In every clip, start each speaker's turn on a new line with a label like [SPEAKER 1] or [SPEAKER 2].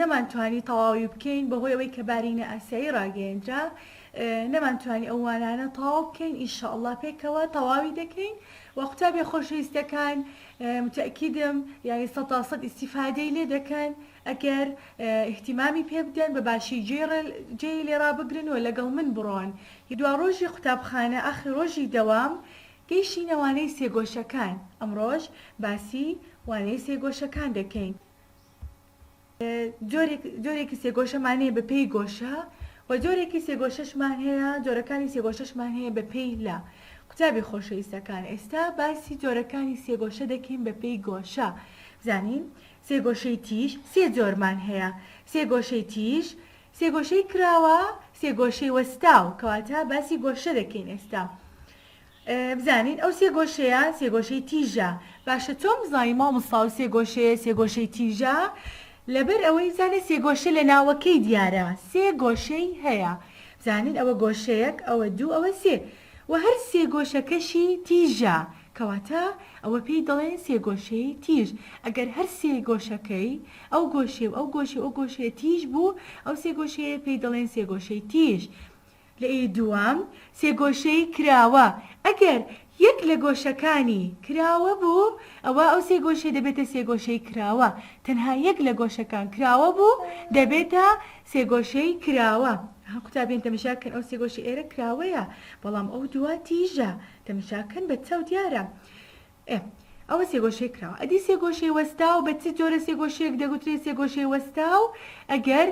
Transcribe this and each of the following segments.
[SPEAKER 1] نەمانتوانی تەواوی بکەین بەهۆی ئەوەی کە بارینە ئاسیایی ڕاگەیەندرا نەمانتوانی ئەو وانانە تەواو بکەین ان شاء اللە پێکەوە تەواوی دەکەین وە قوتابیە خۆشەویستەکان متەئکیدم یانی سەد تا سەد ئیستیفادەی لێ دەکەن ئەگەر ئیهتیمامی پێ بدەن بە باشی جێی لێ ڕابگرن و لەگەڵ من بڕۆن دوا ڕۆژی قوتابخانە ئاخری ڕۆژی دەوام گەیشتینە وانەی سێگۆشەکان ئەمڕۆش باسی وانەی سێگۆشەکان دەکەین. جۆرێکی سێگۆشەمان هەیە بە پێی گۆشە و جۆرێکی سێگۆشەشمان هەیە جۆرەکانی سێگۆشەشمان هەیە بە پێی لە قوتابی خۆشەویستەکان ئێستا باسی جۆرەکانی سێگۆشە دەکەین بە پێی گۆشە زانین سێگۆشەی تیژ سێ جۆرمان هەیە سێگۆشەی تیژ سێگۆشەی کراوە سێگۆشەی وەستاو کەواتە باسی گۆشە دەکەین ئێستا بزانین ئەو سێ گۆشەیە سێ گۆشەی تیژە باشە چۆن بزانین مامۆستا ئەو سێ گۆشەیە سێ گۆشەی تیژە لەبەر ئەوەی بزانە سێ گۆشە لە ناوەکەی دیارە سێ گۆشەی هەیە بزانین ئەوە گۆشەیەک ئەوە دوو ئەوە سێ وە هەر سێ گۆشەکەشی تیژە کەواتە ئەوە پێی دەڵێن سێ گۆشەی تیژ ئەگەر هەر سێ گۆشەکەی ئەو گۆشەی و ئەو گۆشەی و ئەو گۆشەیە تیژ بوو ئەو سێ گۆشەیە پێی دەڵێن سێ گۆشەی تیژ لەی دووەم سێگۆشەی کراوە ئەگەر یەک لە گۆشەکانی کراوە بوو ئەوا ئەو سێگۆشەی دەبێتە سێگۆشەی کراوە تەنها یەک لە گۆشەکان کراوە بوو دەبێتە سێگۆشەی کراوە ها قوتابیان تەمەشا کەن ئەو سێگۆشە ئێرە کراوەیە بەڵام ئەو دووە تیژە تەمەشا کەن بە چاو دیارە ئێ ئەوە سێگۆشەی کراوە ئەدی سێگۆشەی وەستاو بە چ جۆرە سێگۆشەیەک دەگوترێ سێگۆشەی وەستاو ئەگەر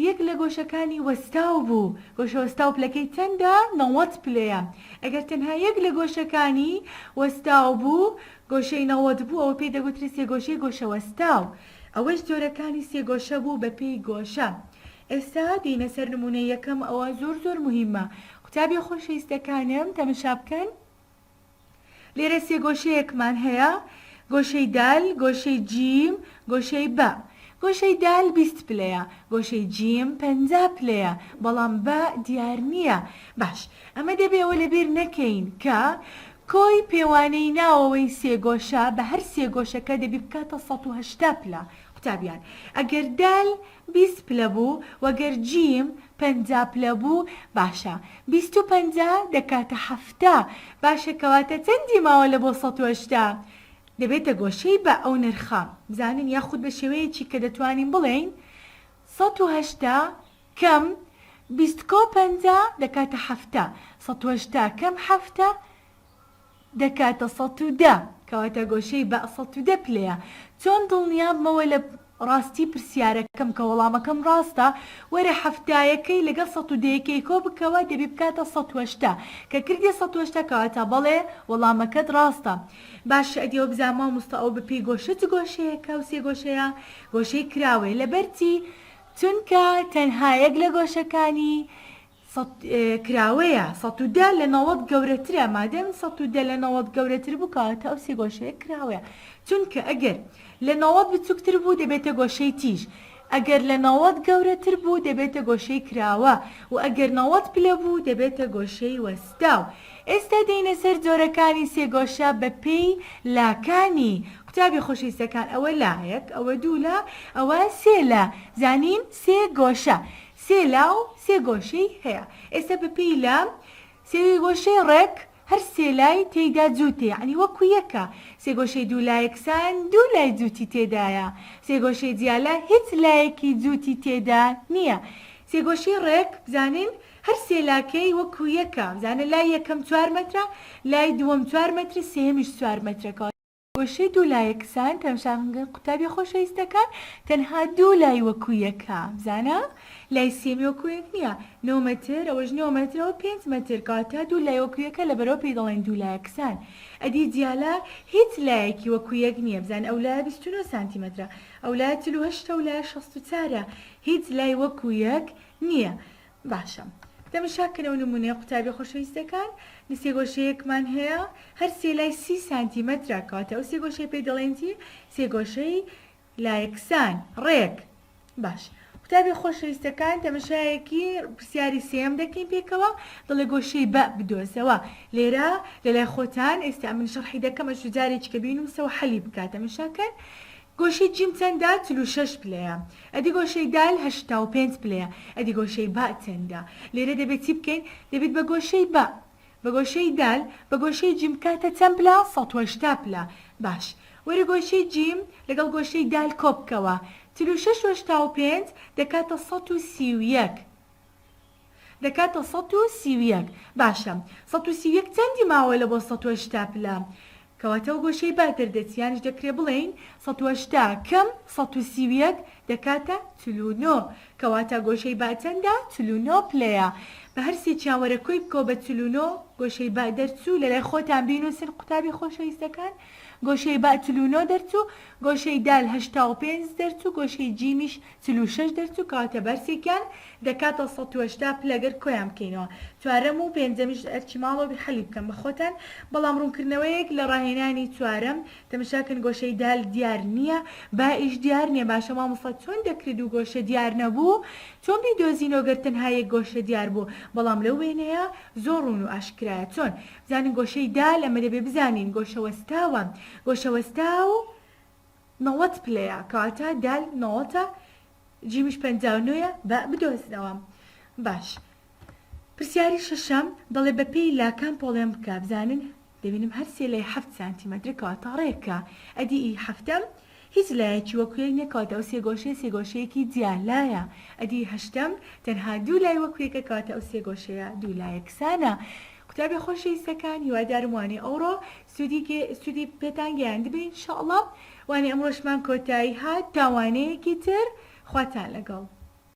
[SPEAKER 1] یەک لە گۆشەکانی وەستاو بوو گۆشە وەستاو پلەکەی چەندە نەوەت پلەیە ئەگەر تەنها یەک لە گۆشەکانی وەستاو بوو گۆشەی نەوەت بوو ئەوە پێی دەگوترێ سێگۆشەی گۆشە وەستاو ئەوەش جۆرەکانی سێگۆشە بوو بە پێی گۆشە ئێستا دێینە سەر نمونەی یەکەم ئەوە زۆر زۆر موهیمە قوتابیە خۆشەویستەکانم تەمەشا بکەن. لێرە سێ گۆشەیەکمان هەیە، گۆشەی دال، گۆشەی جیم، گۆشەی با. گۆشەی دال بیست پلەیە، گۆشەی جیم پەنجا پلەیە، بەڵام با دیار نییە. باش، ئەمە دەبێ ئەوە لە بیر نەکەین کە کۆی پێوانەی ناوەوەی سێ گۆشە بە هەر سێ گۆشەکە دەبی بکاتە سەد و هەشتا پلە. قوتابیان، ئەگەر دال بیست پلە بوو و گەر جیم پەنجا پلە بوو باشە بیست و پەنجا دەکاتە حەفتا باشە کەواتە چەندی ماوە لە بۆ سەد و هەشتا دەبێتە گۆشەی بە ئەو نرخە بزانین یاخود بە شێوەیەکی کە دەتوانین بڵێین سەد و هەشتا کەم بیست کۆ پەنجا دەکاتە حەفتا سەد و هەشتا کەم حەفتا دەکاتە سەد و دە کەواتە گۆشەی بئ سەد و دە پلەیە چۆن دڵنیابمەوە لە ڕاستی پرسیارەکەم کە وەڵامەکەم ڕاستە وەرە حەفتایەکەی لەگەڵ سەد و دەیەکەی کۆ بکەوە دەبی بکاتە سەد و هەشتا کە کردیە سەد و هەشتا کەواتە بەڵێ وەڵامەکەت ڕاستە باشە ئەدی ئەوە بزانە مامۆستا ئەوە بەپێی گۆشە چ گۆشەیەکە و سێ گۆشەیە گۆشەی کراوەیە لەبەرچی چونکە تەنها یەک لە گۆشەکانی سەد کراوەیە سەد و دە لە نەوەد گەورەترە مادەم سەد و دە لە نەوەد گەورەتر بوو کەواتە ئەو سێ گۆشەیە کراوەیە چونکە ئەگەر لە نەوەد بچووکتر بوو دەبێتە گۆشەی تیژ ئەگەر لە نەوەد گەورەتر بوو دەبێتە گۆشەی کراوە و ئەگەر نەوەد پلە بوو دەبێتە گۆشەی وەستاو ئێستا دێینە سەر جۆرەکانی سێ گۆشە بە پێی لاکانی قوتابی خۆشەویستەکان ئەوە لایەک ئەوە دوو لا ئەوە سێ لا زانین سێ گۆشە سێ لا و سێ گۆشەی هەیە ئێستا بە پێی لا سێگۆشەی ڕێک هەر سێ لای تێیدا جووتە یەعنی وەکو یەکە سێگۆشەی دوو لا یەکسان دوو لای جووتی تێدایە سێگۆشەی جیا لا هیچ لایەکی جووتی تێدا نییە سێگۆشەی ڕێک بزانین هەر سێ لاکەی وەکو یەکە بزانە لای یەکەم چوار مەترە لای دووەم چوار مەترە سێیەمیش چوار مەترە کەواتە وشەی دوو لایە کسان تەمشاخنگە قوتابیە خۆشەویستەکان تەنها دوو لای وەکو یەکە بزانە لای سێمی وەکو یەک نیە نۆ مەتر ئەوەش نۆ مەتر ئەوە پێنج مەتر کەواتە دوو لای وەکو یەکە لەبەرەوە پێی دەڵێن دوو لایە کسان ئەدی دیالە هیچ لایەکی وەکو یەک نیە بزانە ئەو لایە بیست و نۆ سانتیمەترە ئەو لایە چل و هەشتە ئەو لایە شەست و چارە هیچ لای وەکو یەک نیە باشە دەمی شا کەنەوە نمونەی قوتابیە خۆشەویستەکان لە سێ گۆشەیەکمان هەیە هەر سێ لای سی سانتیمەترە کەواتە ئەو سێ گۆشەی پێی دەڵێن چی سێ گۆشەی لایەکسان ڕێک باش قوتابیە خۆشەویستەکان تەمەشایەکی پرسیاری سێم دەکەین پێکەوە دڵێ گۆشەی بە بدۆزەوە لێرە لەلای خۆتان ئێستا من شەرحی دەکەم ئەشو جارێکی کە بینوسەوە حەلی بکات تەمەشاکەن گۆشەی جیم چەندە؟ چل و شەش پلەیە. ئەدی گۆشەی دال؟ هەشتا و پێنج پلەیە. ئەدی گۆشەی با چەندە؟ لێرە دەبێت چی بکەین؟ دەبێت بە گۆشەی با. بە گۆشەی دال. بە گۆشەی جیم بکاتە چەند پلە؟ سەد و هەشتا پلە. باش. وەرە گۆشەی جیم لەگەڵ گۆشەی دال کۆبکەوە. چل و شەش و هەشتا و پێنج دەکاتە سەد و سی و یەک. دەکاتە سەد و سی و یەک. باشە سەد و سی و یەک چەندی ماوە لە بۆ سەد و هەشتا پلە؟ کەواتە ئەو گۆشەی بەر دەردەچی یانیش دەکرێ بڵێین سەد و هەشتا کم سەد و سی و یەک دەکاتە چل و نۆ. کەواتە گۆشەی بە چەندە؟ چل و نۆ پلەیە. بە هەر سێکیان وەرە کۆی بکەوە بە چل و نۆ گۆشەی بە دەرچوو. لە لای خۆتان بینووسن قوتابی خۆشەویستەکان. گۆشەی بە چل و نۆ دەرچوو. گۆشەی دال هەشتا و پێنج دەرچوو. گۆشەی جیمیش چل و شەش دەرچ و کاتە بەرسێکیان دەکاتە سەد و هەشتا پلە گەر کۆیان بکەینەوە چوارەم و پێنجەمیش ئەرکی ماڵەوە بی حەلی بکەن بە خۆتان بەڵام ڕوونکردنەوەیەک لە ڕاهێنانی چوارەم تەمشا کەن گۆشەی دال دیار نیە با ئیش دیار نیە باشە مامۆستا چۆن دەکرێ دوو گۆشە دیار نەبوو چۆن بیدۆزینەوە گەر تەنها یەک گۆشە دیار بوو بەڵام لەو وێنەیە زۆر ڕوون و ئاشکرایە چۆن بزانین گۆشەی دال ئەمە دەبێ بزانین گۆشە وەستاوە گۆشە وەستاو نەوەت پلەیە کەواتە دال نەوەتە جیمیش پەنجا و نۆیە با بدۆزنەوە باش پرسیاری شەشەم دەڵێ بەپێی لاکان پۆڵێن بکە بزانن دەبینم هەر سێ لای حەفت سانتیمەترە کەواتە ڕێکە ئەدی ئی حەفتەم هیچ لایەکی وەک یەک نیە کەواتە ئەو سێ گۆشەیە سێ گۆشەیەکی جیا لایە ئەدی هەشتەم تەنها دوو لای وەک یەکە کەواتە ئەو سێ گۆشەیە دوو لایەکسانە قوتابی خۆشەویستەکان هیوادارم وانەی ئەوڕۆ سودی کێ سودی پێتان گەیاندبێ ان شاء اللە وانە ئەمڕۆشمان کۆتایی هات تا وانەیەکی تر خواتان لەگەڵ.